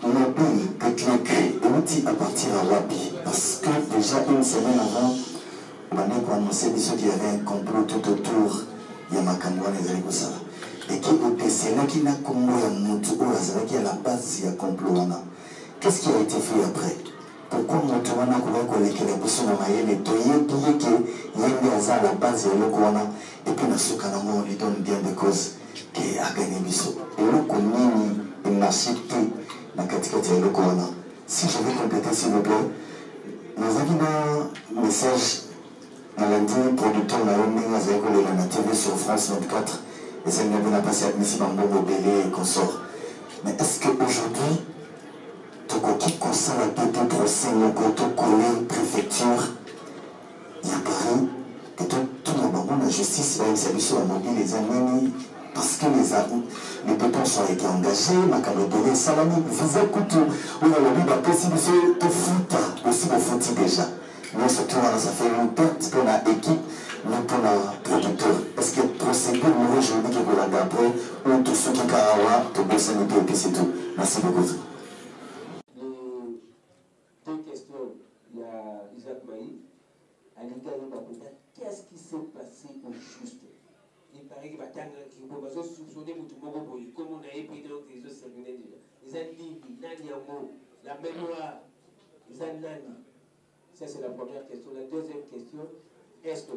Mobile que tu as cree ewuti à partir ya wapi parce que dejà une semaine avant obandaki ko annonce biso qu'il y avait un complot tout autour ya makambo wana ezali kosala et qui okesenaki na kombo ya mutu oyo azalaki à la base ya complot wana qu'est-ce qui a été fait après pourquoi mutu wana akoki kolekela biso na mayele toyebi ye ke ye nde aza à la base ya eloko wana epuis na suka nango on lui donne bien de cause Te, akani biso. Eloko nini il n'assure te na kati kati ya eloko wana? Si je vais completer s'il vous plait, nazalaki na message nalandi producteur na yo ndenge azali kolela na TV sur France 24 ezali na bina pasi abimisi bambongo ebele et consort. Mais est-ce que aujourd'hui tokoki kosala pe te procès moko to coller prefecture ya Paris que to tuna bango na justice ba yebisa biso ba mobile eza nini parce que les les depenses ont été engagées makambo ebele esalami visa kutu oyo alobi bapesi biso tofuta osi bofuti déjà nyonso to wana ça fait une perte mpo na équipe ni mpo na producteur est ce que procédure moko juridique ekolanda après oyo tosuki kaka awa tobosani mpe epesi tout merci beaucoup Deux questions ya Isaac Maï. Alingi ayeba mpenza qu'est-ce qui s'est passé au juste il paraît que batangaki mpo bazo soupçonne motu moko boye nkombo na ye mpe donc ezo circule déjà eza nini nani yango la mémoire eza nani ça c'est la première question la deuxième question est ce que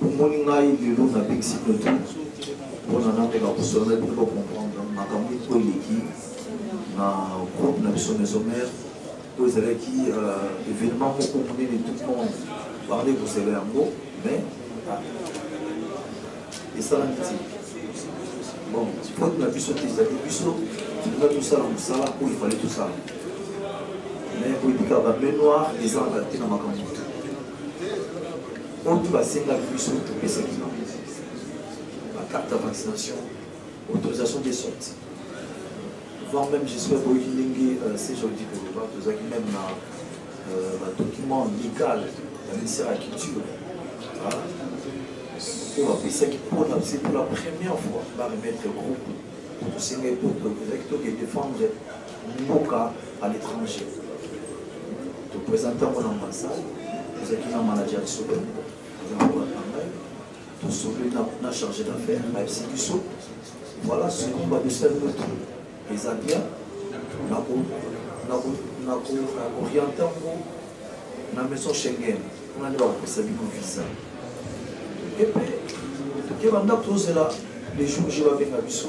Bomoni ngai lelo na bikisi peto mpona nameka kosolola bino bacomprendre makambo eko eleki na groupe na biso maison mare oyo ezalaki euh, événement moko monene tout le monde bazali kosela yango mais esalami ti bon faute na biso te ezali biso tolinga tosala mosala oyo efali tosala mais koyebika bamenoir ezalaka te na makambo otu basenga biso topesaki bango bacarte ya vaccination autorisation de sorti voire même j'espère boyoki ndenge euh, cjodi koloba tozalaki même na euh, badocument légal ya ministère ya culture oyo bapesaki mpona c'est pour la première fois baremettre groupe tosengai mpo tozalaki toke défendre mboka à l'étranger topresente yango na ambassade tozalaki na manager ya solo azaakolaka ngai tosolo na chargé d'affaire bayebisi biso voilà soki badesali motu eza bien nakoriente yango na maison schengen kuna nde bakopesa bino visa epe tokeba ndako tozela les jours je babenga biso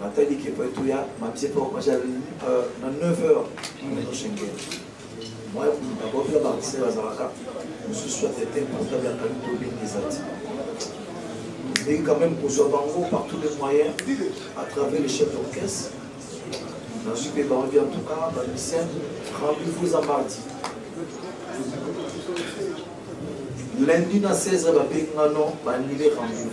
Natali ke po etu ya mamse po maja euh, na 9 heures nazo shenge. Moi na bo pla ba se bazalaka. Mususu atete portable ya kali to bengi ezati. Mais quand même pour soi bango par tous les moyens à travers les chefs d'orchestre. Dans ce pays, en tout cas, dans le lycée, rendez-vous à mardi. Lundi na 16 babengi nga non baannule rendez-vous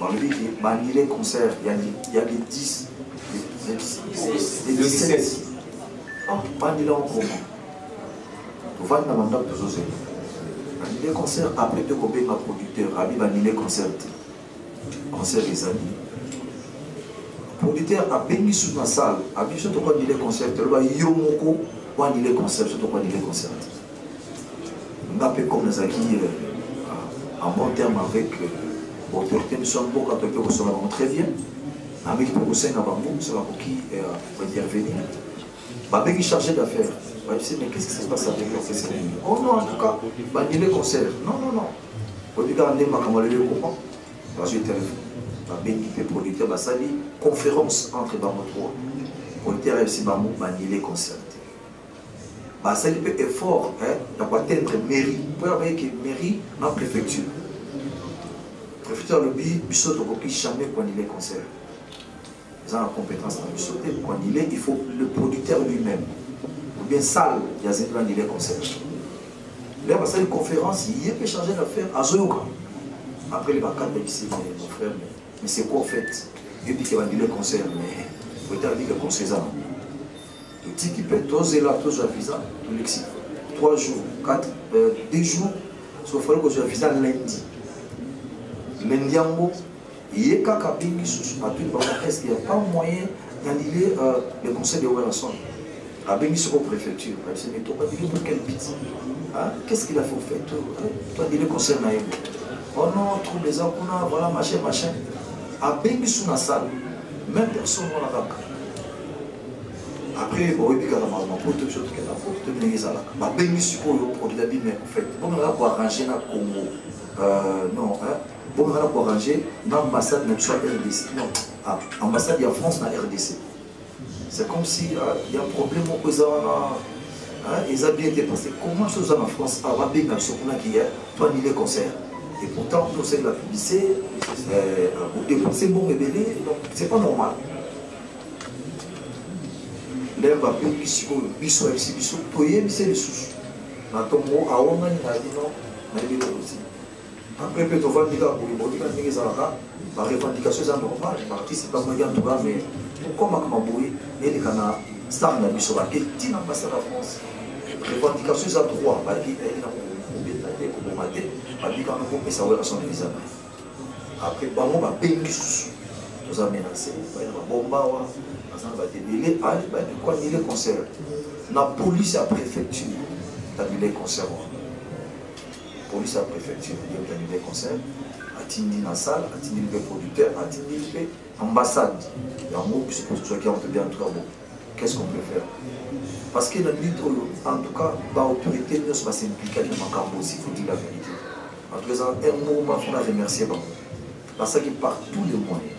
balobi ke baannule concert ya le 10 le 17 bandela okoma tovandi na bandako tozozela annule concert après te kobenga producteur abi baannule concert te concert ezali producteur abengi su na salle abi biso tokoannule concert te aloba yo moko oannule concert biso tokoannule concert te nga mpe comme nazalaki euh, en bon terme avec euh, baautorité biso ya mboka toye mpe kosola bango très bien nameki mpe kosenga bango so bakoki baintervenir euh, babengi chargé d'affaires bayebisi mais qu'est ce qui se passe avec l'orchestre oh non en tout cas banile concert non non non oyebi kaka nde makambo aleli okoma bazwi telefone babengi mpe producteur basali conférence entre bango trois producteur ayebisi bango banile concert basali mpe effort ya koatteindre mairie mpo ya bayeke mairie na préfecture préfecture alobi biso tokoki jamais koanile concert eza na compétence na biso te koanile il faut le producteur lui-même ou bien salle ya zindi banile concert le basali conférence ye mpe chargé d'affaire azoyoka après le bakanda bisi mon frère mais c'est quoi en fait epi ke bandile concert mais oyetalaki ke conseil eza nango totiki mpe tozela tozwa visa tolekisi 3 jours 4 euh, 2 jours sofali kozwa visa lundi lundi yango ye kaka abengi susu atuni bango eske ya pas moyen nalile euh, le conseil de werrason abengi soko préfecture abisemi tokadili pour quel but qu'est ce qu'il a faut fait twadili conseil na ye oh non trouble eza kuna voilà machin machin abengi su na salle même personne wana kaka après boyebi kaka makambo ya poto biso tokenda poto toyebi ndenge ezalaka babengi sikoyo produit abi mais en fait bomekaka koarrange na congo euh, non bomekaka na koarrange na ambassade na biso ya rdc non ah, ambassade ya france na rdc c'est comme si ah, ya problème moko eza wana ah, eza bien te parce que comment so oza na france awa babenga biso kuna kiya to anile concert et pourtant tosali la publicité euh, bodepense mbongo ebele donc c'est pas normal ndenge babengi sikoyo biso ayebisi biso toyebise lisusu na ntongo awangani na bino nayebi eloko te apres mpe tovandi kaka boye boyika ndenge ezalaka barevendication eza normal baartiste bamoyeki antuka me tokomaka maboye eleka na star na biso bake ntina basa na france revendication eza droit bake eyeli na kobeta te koboma te babikana kopesa wela son visa Après bango ba bengi susu toza menase baye na babomba awa baza na bato ebele ale baye koanile concert na police ya préfecture tanile concert wana police ya préfecture yo tanile concert atindi na salle atindi mpe producteur atindi mpe ambassade yango biso mpe tozwaki yango tobi en tout cas bon qu'est-ce qu'on peut faire parce que na minute oyo en tout cas baautorité nyonso basimplika na makambo osi faut dire la vérité En tout cas, eza un mouvement mpo na remercier bango nasalaki par tous les moyens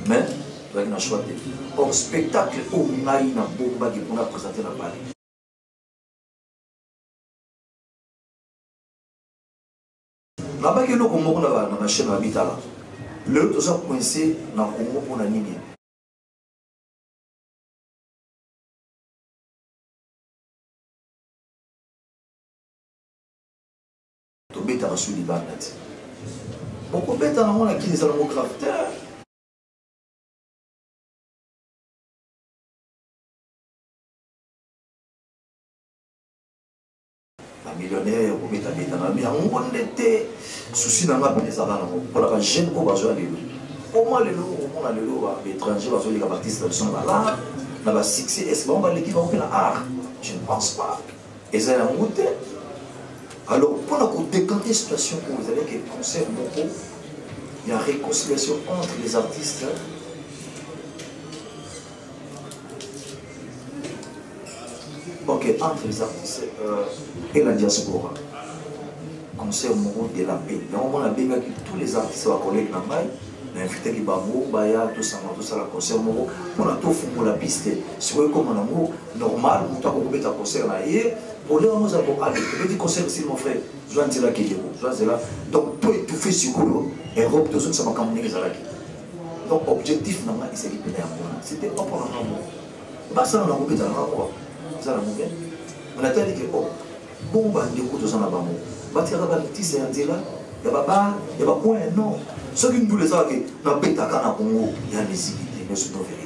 mais ezalaki na choix te or spectacle oyo ngai nabombaki mpo na présente na bale nabaki eloko moko na bachaine ya mitala lelo toza coince na congo mpo na nini tobetaka su libanda te bokobeta nango na kini ezala ngo grave te millionnaire kobetabeta na yango nde te susi na nga mpe ezala nango mpona bajeune oyo bazwa lelo koma lelo omona lelo baétranger bazoleka baartiste na biso na balare na basuccès est ce bango baleki bango mpe na art je ne pense pas eza yango te alors mpo na kodekante situation oyo ezalaki concert moko ya réconciliation entre les artistes ok entre les artistes euh, et la diaspora concert moko de la paix yango mwana abengaki tous les artistes bakoleki na ngai na invitaki bango baya tosanga tosala concert moko mpona tofungola piste sikoyo ekoma nango normal moto akokobeta concert na ye problème yango eza koale tobeti concert si mon frère zwa nzela keleko zwa nzela donc to étouffe sikoyo europe tozongisa makambo ndenge ezalaki donc objectif na ngai ezali mpena yango wana c'était pas mpona ngai moko basala na kobeta nanga kua eza na moke natali ke o oh, Bongo ba ndeko toza na bango batikaka ba litisa ya nzela ya ba bar ya ba coin ya nord soki ndula ezaka ke nabetaka na congo ya miziki te mais c'est vrai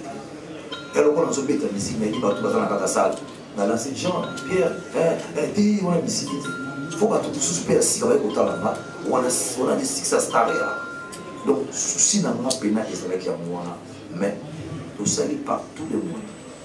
ya lokola nazobeta misiki nayebi bato baza na kaka sale na lance jean pierre eh, eh, te wana misiki te fo bato mosusu mpe ya sika baye kotalanga wana wana lisikisa star ya donc susi na nga mpena ezalaki yango wana mais tosali par tous les moyens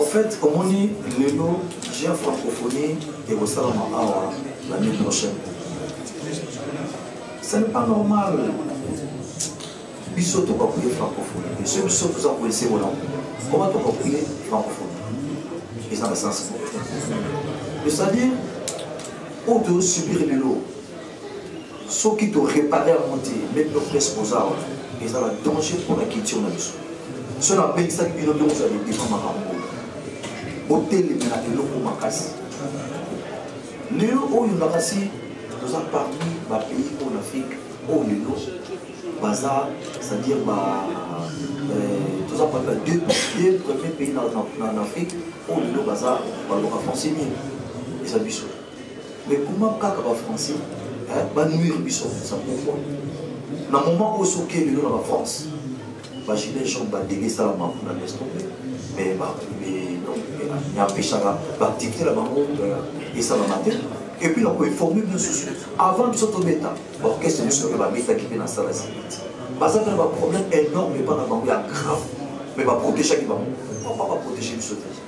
En fait, omoni lelo jean francophonie ekosalama awa l'année prochaine. Ce n'est pas normal. biso tokakuye francophonie te soki biso toza koyese wana koma tokakuye francophonie eza na sens c'est-à-dire oyo tozosubir lelo soki to réparer yango te meme no presse boza awa eza na danger mpo na culture na biso so nabengisaki bino nde kozala libima makambo oyo boteleme na eloko makasi lelo oyo na kasi toza parmi bapays oyo na afrique oyo lelo baza c'est-à-dire ba euh, toza parmi ba deux premier pays na afrique oyo lelo baza baloka français mingi eza biso mais comment kaka ba français hein, ba nuire biso ça pourquoi na moment oyo soki lelo na ba france ba gilet jaune ba dege sala ma kuna laisse tomber mais ba empêchaka baactivité na bango esalama te et puis na koinforme bino susu avant biso tobeta baorchestre biso oyo babetaki mpe na sala ziliti baza mpe na baproblème énorme epa na bango ya grave mais baprotegaki bango papa baprotege biso te